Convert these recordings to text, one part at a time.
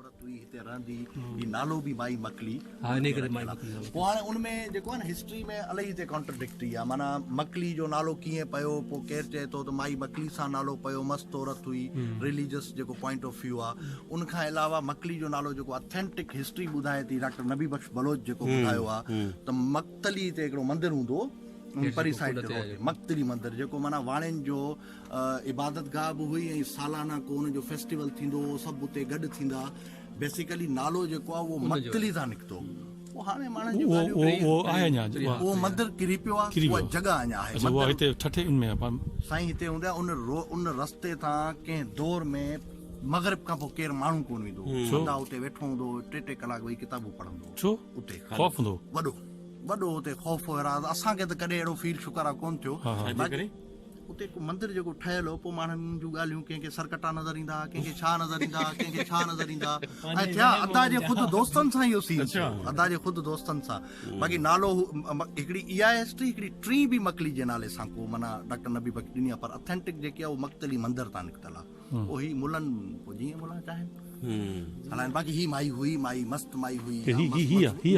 عورت هئي هتي رهندي جي نالو به مائي مڪلي ها انهي ڪري مائي مڪلي پوء هاڻي ان ۾ جيڪو آهي نه هسٽري ۾ الائي هتي ڪانٽرڊڪٽري آهي معنيٰ مڪلي جو نالو ڪيئن پيو پوء ڪير چئي ٿو ته مائي مڪلي سان نالو پيو مست عورت هئي رليجس جيڪو پوائنٽ آف ويو آهي ان کان علاوه مڪلي جو نالو جيڪو اٿينٽڪ هسٽري ٻڌائي ٿي ڊاڪٽر نبي بخش بلوچ جيڪو ٻڌايو آهي ته مڪتلي تي هڪڙو مندر هوندو هو پري سائيڊ تي مڪتلي مندر جيڪو معنيٰ واڻين جو عبادتگاهه به هئي ۽ سالانه ڪو ان جو فيسٽيول ٿيندو هو سڀ اتي گڏ ٿيندا بيسيڪلي نالو جيڪو آهي اهو مڪتل ئي تان نڪتو پوء هاڻي ماڻهن جون ڳالهيون اهو آهي اڃا اهو مندر ڪري پيو آهي اها جڳهه اڃا آهي اها هتي ٺٺي ان ۾ سائين هتي هوندي آهي ان رو ان رستي تان ڪنهن دور ۾ مغرب کان پوء ڪير ماڻهو ڪون ويندو هو خدا اتي ويٺو هوندو هو ٽي ٽي ڪلاڪ ويهي ڪتابون پڙهندو هو ڇو اتي خوف هوندو وڏو وڏو هتي خوف هو اسان کي ته ڪڏهن اهڙو فيل شڪر آهي ڪون ٿيو اتي هڪ مندر جيڪو ٺهيل هو پوء ماڻهن جون ڳالهيون ڪنهن کي سرڪٽا نظر ايندا ها ڪنهن کي ڇا نظر ايندا ها ڪنهن کي ڇا نظر ايندا ها ۽ ٿيا ادا جي خود دوستن سان اهو سين ٿيو ادا جي خود دوستن سان باقي نالو هڪڙي اي آء هسٽري هڪڙي ٽي بي مڪلي جي نالي سان ڪو معنيٰ ڊاڪٽر نبي بخش ڏني پر اٿينٽڪ جيڪي اهو مقتلي مندر تان نڪتل آهي او هي ملن پوء جيئن ملن چاهن هلائن باقي هي مائي هئي مائي مست مائي هئي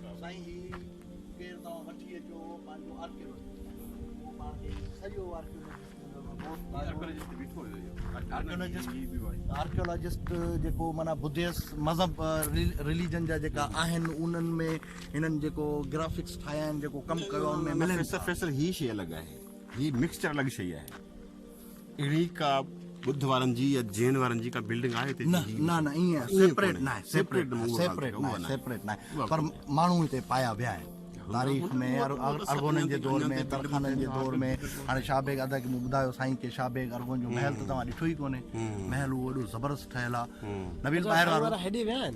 سائين هي ڪير توهان وٺي اچو پنهنجو آرڪيولوجسٽ پاڻ کي سڄو آرڪيولوجسٽ آرڪيولوجسٽ جيڪو معنيٰ بديس مذهب رليجن جا جيڪا آهن انهن ۾ هنن جيڪو گرافڪس ٺاهيا آهن جيڪو ڪم ڪيو آهي ان ۾ ملن فيصل هي شيء الڳ آهي هي مڪسچر الڳ شيء آهي اهڙي ڪا ٻڌ وارن جي يا جين وارن جي ڪا بلڊنگ آهي هتي؟ نه نه نه ايئن سيپريٽ نه آهي سيپريٽ نه سيپريٽ نه سيپريٽ نه آهي پر ماڻهو هتي پايا ويا آهن تاريخ ۾ ارغونن جي دور ۾ ترخانن جي دور ۾ هاڻي شاهه بيگ ادا کي مون ٻڌايو سائين ڪي شاهه بيگ ارغون جو محل ته توهان ڏٺو ئي ڪونهي محل اهو اڏو زبردست ٺهيل آهي نويل ٻاهر وارو هيڏي ويا آهن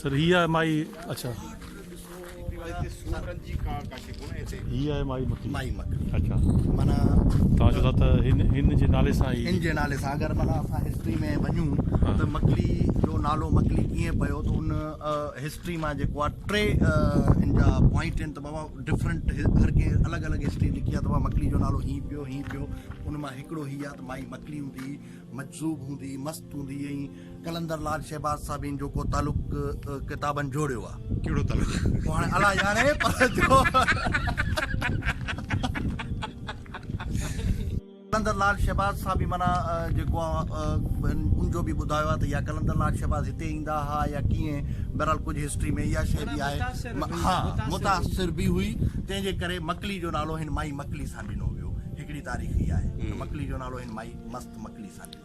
سر هي آهي مائي اڇا. هي آهي مائي مکي. مائي مکي. اڇا. معنيٰ. توهان چئو ٿا ته هن هن جي نالي سان هي. هن جي نالي سان اگر معنيٰ اسان هسٽري ۾ وڃون ته مڪلي جو نالو مڪلي ڪيئن پيو ته ان هسٽري مان جيڪو آهي ٽي ان جا پوائنٽ آهن ته بابا ڊفرنٽ هر ڪنهن الڳ الڳ هسٽري لکي آهي ته مڪلي جو نالو هي پيو هي پيو ان مان هڪڙو هي آهي ته مائي مڪلي هوندي هئي مجذوب هوندي هئي مست هوندي هئي قلندر لال شهباز صاحبين جو ڪو تعلق ڪتابن جوڙيو آ. ڪهڙو تعلق؟ اهو هاڻي الله ڄاڻي پر جو قلندر لال شهباز صاحبي معنيٰ جيڪو آ ان جو به ٻڌايو آ ته يا قلندر لال شهباز هتي ايندا ها يا ڪيئن بهرحال ڪجهه هسٽري ۾ اها شيء به آهي ها متاثر به هئي تنهن جي ڪري مڪلي جو نالو هن مائي مڪلي سان ڏنو ويو هڪڙي تاريخ اها آهي ته مڪلي جو نالو هن مائي مست مڪلي سان ڏنو.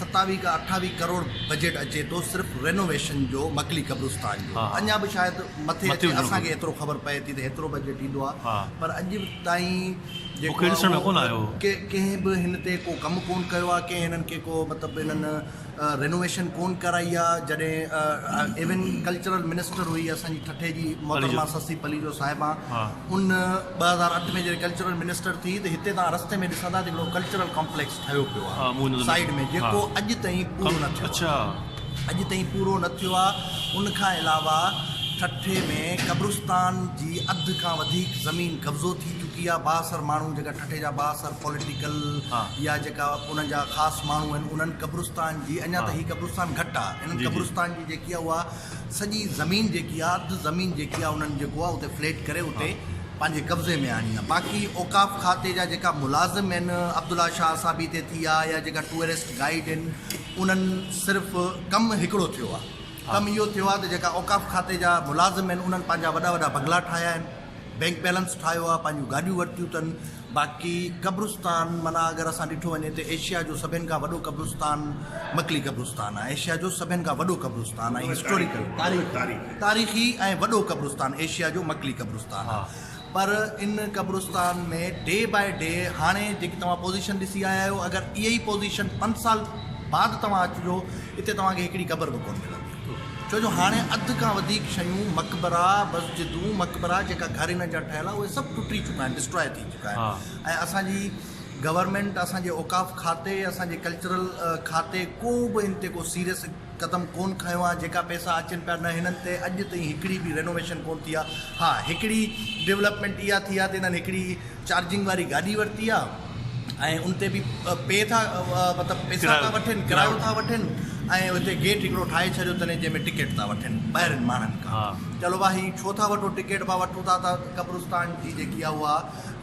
ستاويهه کان اٺاويهه ڪروڙ بجيٽ اچي ٿو صرف رينوويشن جو مڪلي قبرستان جو اڃا به شايد مٿي اچي اسان کي ايترو خبر پئي ٿي ته هيترو بجيٽ ايندو آهي پر اڄ تائين جيڪو آهي ڪنهن به هن تي ڪو ڪم ڪون ڪيو آهي ڪنهن هنن کي ڪو مطلب هنن رينوويشن ڪون ڪرائي آهي جڏهن ايون ڪلچرل منسٽر هئي اسان جي ٺٽي جي محترمه سسي پليجو صاحبا ان ٻه هزار اٺ ۾ جڏهن ڪلچرل منسٽر ٿي ته هتي تان رستي ۾ ڏسندا ته هڪڙو ڪلچرل ڪامپليڪس ٺهيو پيو آهي سائيڊ ۾ جيڪو اڄ تائين پورو نه ٿيو آهي اڄ تائين پورو نه ٿيو آهي ان کان علاوه ٺٽي ۾ قبرستان جي اڌ کان وڌيڪ زمين قبضو ٿي چڪي آهي بااثر ماڻهو جيڪا ٺٽي جا بااثر پوليٽيڪل يا جيڪا انهن جا خاص ماڻهو آهن انهن قبرستان جي اڃا ته هي قبرستان گهٽ آهي انهن قبرستان جي جيڪي آهي اها سڄي زمين جيڪي آ اڌ زمين جيڪي آ انهن جيڪو آ اتي فليٽ ڪري اتي پنهنجي قبضي ۾ آڻي آ باقي اوقاف کاتي جا جيڪا ملازم آهن عبدالله شاهه صاحب هي تي ٿي آ يا جيڪا ٽوئرسٽ گائيڊ آهن انهن صرف ڪم هڪڙو ٿيو آ ڪم اهو ٿيو آ ته جيڪا اوقاف کاتي جا ملازم آهن انهن پنهنجا وڏا وڏا بنگلا ٺاهيا آهن بينڪ بيلنس ٺاهيو آ پنهنجون گاڏيون ورتيون تن باقي قبرستان معنيٰ اگر اسان ڏٺو وڃي ته ايشيا جو سڀين کان وڏو قبرستان مڪلي قبرستان آهي ايشيا جو سڀين کان وڏو قبرستان ۽ هسٽوريڪل تاريخي تاريخي ۽ وڏو قبرستان ايشيا جو مڪلي قبرستان پر ان قبرستان ۾ ڊي باء ڊي هاڻي جيڪي توهان پوزيشن ڏسي آيا آهيو اگر اهي ئي پوزيشن پنج سال بعد توهان اچجو اتي توهان کي هڪڙي قبر به ڪون ملندي ڇو جو هاڻي اڌ کان وڌيڪ شيون مقبرا، مسجدون، مقبرا جيڪا گهرين جا ٺهيل آهن اهي سڀ ٽٽي چڪا آهن Destroy ٿي چڪا آهن ۽ اسان جي گورنمينٽ اسان جي اوقاف کاتي اسان جي ڪلچرل کاتي ڪو به ان تي ڪو سيريس قدم ڪون کنيو آهي جيڪا پئسا اچن پيا نه هنن تي اڄ تائين هڪڙي به رينوويشن ڪون ٿي آهي ها هڪڙي ڊولپمينٽ اها ٿي آهي ته هنن هڪڙي چارجنگ واري گاڏي ورتي آ ۽ ان تي به پي ٿا مطلب پيسا ٿا وٺن ڪرايو ٿا وٺن ۽ اتي گيٽ هڪڙو ٺاهي ڇڏيو اٿن جنهن ۾ ٽڪيٽ ٿا وٺن ٻاهرين ماڻهن کان چلو ڀا هي ڇو ٿا وٺو ٽڪيٽ ڀا وٺو ٿا ته قبرستان جي جيڪي آ اها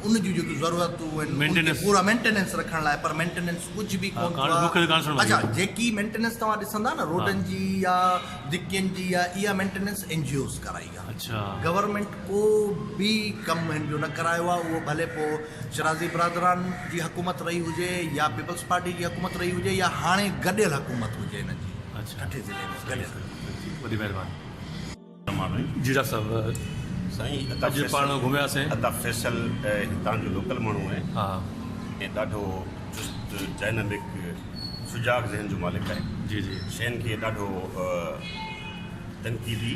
ان جون جيڪي ضرورتون آهن پورا مينٽيننس رکڻ لاء پر مينٽيننس ڪجهه به ڪونه اچا جيڪي مينٽيننس توهان ڏسندا نه روڊن جي يا دڪين جي يا اها مينٽيننس اين جي اوز ڪرائي گورنمينٽ ڪو به ڪم هن جو نه ڪرايو آهي اهو ڀلي پوء شرازي برادران جي حڪومت رهي هجي يا پيپلز پارٽي جي حڪومت رهي هجي يا هاڻي گڏيل حڪومت هجي هن جي ٺٽي ضلعي ۾ گڏيل حڪومت وڏي مهرباني. جيئرا صاحب سائين عطا اڄ پاڻ فيصل گهميا سين. عطا فيصل هتان جو لوڪل ماڻهو آهي ها ۽ ڏاڍو چست ڊائنامڪ سجاڳ ذهن جو مالڪ آهي جي جي شين کي ڏاڍو تنقيدي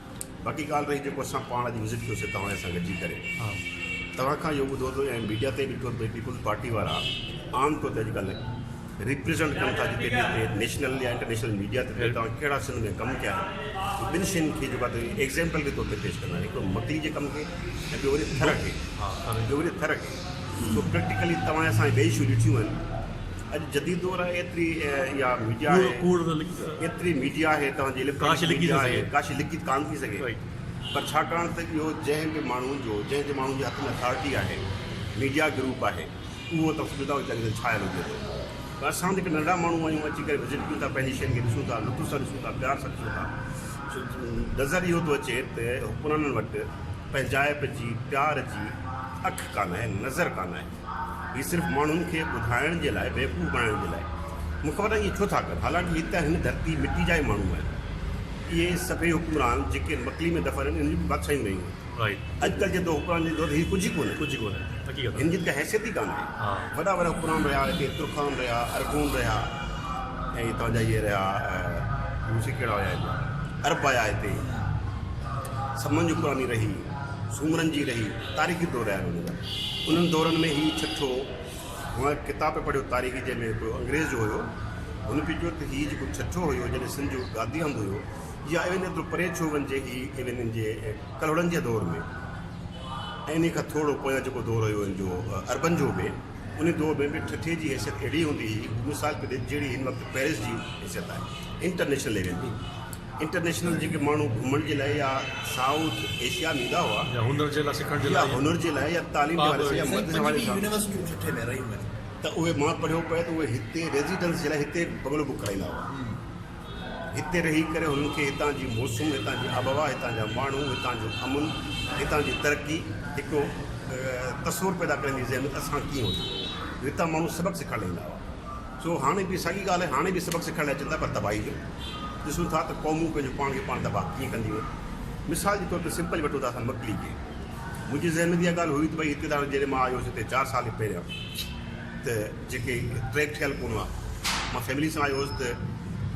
باقي ڳالهه رهي جيڪو اسان پاڻ اڄ وزٽ ڪيو سي توهان سان گڏجي ڪري توهان کان اهو ٻڌو ٿو ۽ ميڊيا تي ڏٺو ته پيپلز پارٽي وارا عام طور تي اڄڪلهه ريپريزنٽ ڪن ٿا جتي به هتي نيشنل يا انٽرنيشنل ميڊيا تي ڏيو توهان کهڙا سنڌ ۾ ڪم ڪيا آهن ٻن شين کي جيڪو تري ايگزامپل جي طور تي پيش ڪندا هڪ مڪلي جي ڪم کي ۽ ٻيو وري ٿر کي ها ٻيو وري ٿر کي سو پريڪٽيڪلي توهان اسان ٻئي شو ڏٺيون آهن اڄ جديد دور آهي ايتري اها ميڊيا آهي ڪوڙ نه لکي سگهي ايتري ميڊيا آهي توهان جي ڪاش لکي نه سگهي ڪاش لکي ته ڪانه ٿي سگهي پر ڇاڪاڻ ته اهو جنهن به ماڻهو جو جنهن جي ماڻهو جي هٿ ۾ اٿارٽي آهي ميڊيا گروپ آهي اهو ته سويڌا ويچاري تي ڇايل هجي ٿو پر اسان جيڪي ننڍا ماڻهو آهيون اچي ڪري وزٽ ڪيون ٿا پنهنجي شين کي ڏسون ٿا لطف سان ڏسون ٿا پيار سان ڏسون ٿا نظر اهو ٿو اچي ته حڪمرانن وٽ پنهنجائپ جي پيار جي اک ڪانه آهي نظر ڪانه آهي هي صرف ماڻهن کي ٻڌائڻ جي لاء بيوقوف بڻائڻ جي لاء مون کي پتان اهي ڇو ٿا ڪن حالانڪ هي ته هن ڌرتي مٽي جا ئي ماڻهو آهن اهي سڀئي حڪمران جيڪي مڪلي ۾ دفن آهن انهن جون به بادشاهيون رهيون آهن اڄڪلهه جي حڪمران جي دور هي ڪجهه ئي ڪونهن ڪجهه ئي ڪونهن حقيقت هن جي ته ڪا حيثيت ئي ڪانهي وڏا وڏا حڪمران رهيا هتي ترخان رهيا ارغون رهيا ۽ توهان جا اهي رهيا روسي ڪهڙا هيا اهي عرب آيا هتي سمن جي حڪمراني رهي سومرن جي رهي تاريخي دور رهيا آهن انهن جا انهن دورن ۾ هي ٺٽو مان هڪ ڪتاب پڻ پڙهيو تاريخي جنهن ۾ هڪڙو انگريز جو هيو هن پي چيو ته هي جيڪو ٺٽو هيو جڏهن سنڌ جو گادي هنڌ هيو يا ايون ايترو پري ڇو وڃجي هي انهن جي ڪلهوڙن جي دور ۾ ۽ انهي کان ٿورڙو پويان جيڪو دور هيو هن جو عربن جو به انهي دور ۾ به ٺٽي جي حيثيت اهڙي هوندي هئي مثال طور جهڙي هن وقت پيرس جي حيثيت آهي انٽرنيشنل ليول جي انٽرنيشنل جيڪي ماڻهو گهمڻ جي لاء يا سائوٿ ايشيا ۾ ايندا هئا يا هنر جي لاء سکڻ جي لاء يا هنر جي لاء يا تعليم جي حوالي سان يا مدد جي حوالي سان يونيورسٽيون ٺٽي ۾ رهيون آهن ته اهي مان پڙهيو پئي ته اهي هتي ريزيڊنس جي لاء هتي بنگلو بڪ ڪرائيندا هئا هتي رهي ڪري هنن کي هتان جي موسم هتان جي آبهوا هتان جا ماڻهو هتان جو امن هتان جي ترقي هڪڙو تصور پيدا ڪرڻ جي ذهن ۾ ته اسان ڪيئن هجون هتان ماڻهو سبق سکڻ لاء ايندا هئا سو هاڻي به ساڳي ڳالهه هاڻي به سبق سکائڻ لاء اچن ٿا پر تباهي جو. ڏسون ٿا ته قومون پنهنجو پاڻ کي پاڻ تباهه ڪيئن ڪنديون آهن. مثال جي طور تي سمپل وٺو ته اسان مڪلي کي. منهنجي ذهن ۾ ته اها ڳالهه هئي ته ڀئي هتي تان جڏهن مان آيو هوس هتي چار سال اڳ پهريان ته جيڪي ٽريڪ ٺهيل ڪونه هئا. مان فيملي سان آيو هوس ته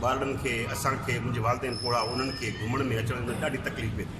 ٻارڙن کي، اسان کي، منهنجي والدين پوڙها انهن کي گهمڻ ۾ اچڻ ۾ ڏاڍي تڪليف پئي ٿي.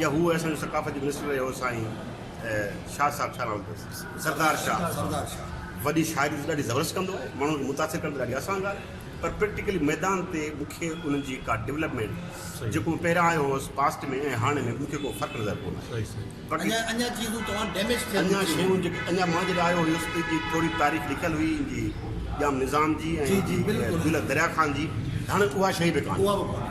جا هو اسان جو ثقافت جو منسٽر رهيو هو سائين شاهه صاحب ڇا نالو تس سردار شاهه سردار شاهه وڏي شاعري ته ڏاڍي زبردست ڪندو هو ماڻهن کي متاثر ڪرڻ ته ڏاڍي آسان ڳالهه آهي پر پريڪٽيڪلي ميدان تي مون کي انهن جي ڪا ڊيولپمينٽ جيڪو مان پهريان آيو هوس پاسٽ ۾ ۽ هاڻي ۾ مون کي ڪو فرق نظر ڪونه آيو باقي اڃا چيزون توهان ڊيميج ٿيل اڃا شيون جيڪي اڃا مان جڏهن آيو هيس ته جي ٿوري تاريخ لکيل هئي ان جي ڄام نظام جي ۽ جي بلڪل دريا خان جي هاڻي اها شيء به ڪانه اها به ڪانه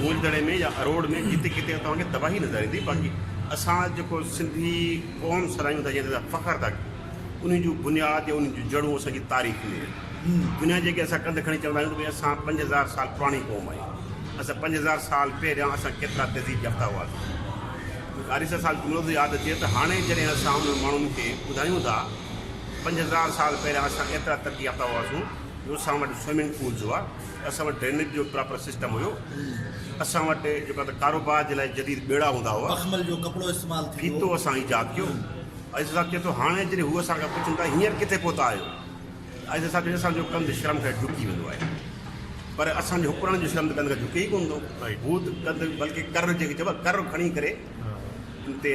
گولدڙي ۾ يا اروڙ ۾ جتي ڪٿي توهان کي تباهي نظر ايندي باقي اسان جيڪو سنڌي قوم سڏايون ٿا جنهن تي اسان فخر ٿا ڪيون انهي جون بنياد يا انهي جون جڙون اسان جي تاريخ ۾ آهن دنيا جيڪي اسان ڪنڌ کڻي چوندا آهيون ته ڀئي اسان پنج هزار سال پراڻي قوم آهيون اسان پنج هزار سال پهريان اسان ڪيترا تهذيب يافتا هئاسين حارث صاحب جملو ٿو ياد اچي ته هاڻي جڏهن اسان انهن ماڻهن کي ٻڌايون ٿا پنج هزار سال پهريان اسان ايترا ترقي يافتا هئاسون اسان وٽ سوئمنگ پولز هئا، اسان وٽ ڊرينيج جو پراپر سسٽم هيو، اسان وٽ جيڪو آهي ته ڪاروبار جي لاء جديد ٻيڙا هوندا هئا، مخمل جو ڪپڙو استعمال ٿيندو هو. ڦيٿو اسان ايجاد ڪيو. عزيز صاحب چئي ٿو هاڻي جڏهن هو اسان کان پڇن ٿا هينئر ڪٿي پهتا آهيو؟ ته عزيز صاحب چئي ٿو اسان جو ڪنڌ شرم کان جهڪي ويندو آهي پر اسان جي حڪمرانن جو شرم ته ڪنڌ کان جهڪي ئي ڪونه ٿو، هو ته ڪنڌ بلڪه ڪر جنهن کي چئبو آهي ڪر کڻي ڪري ان تي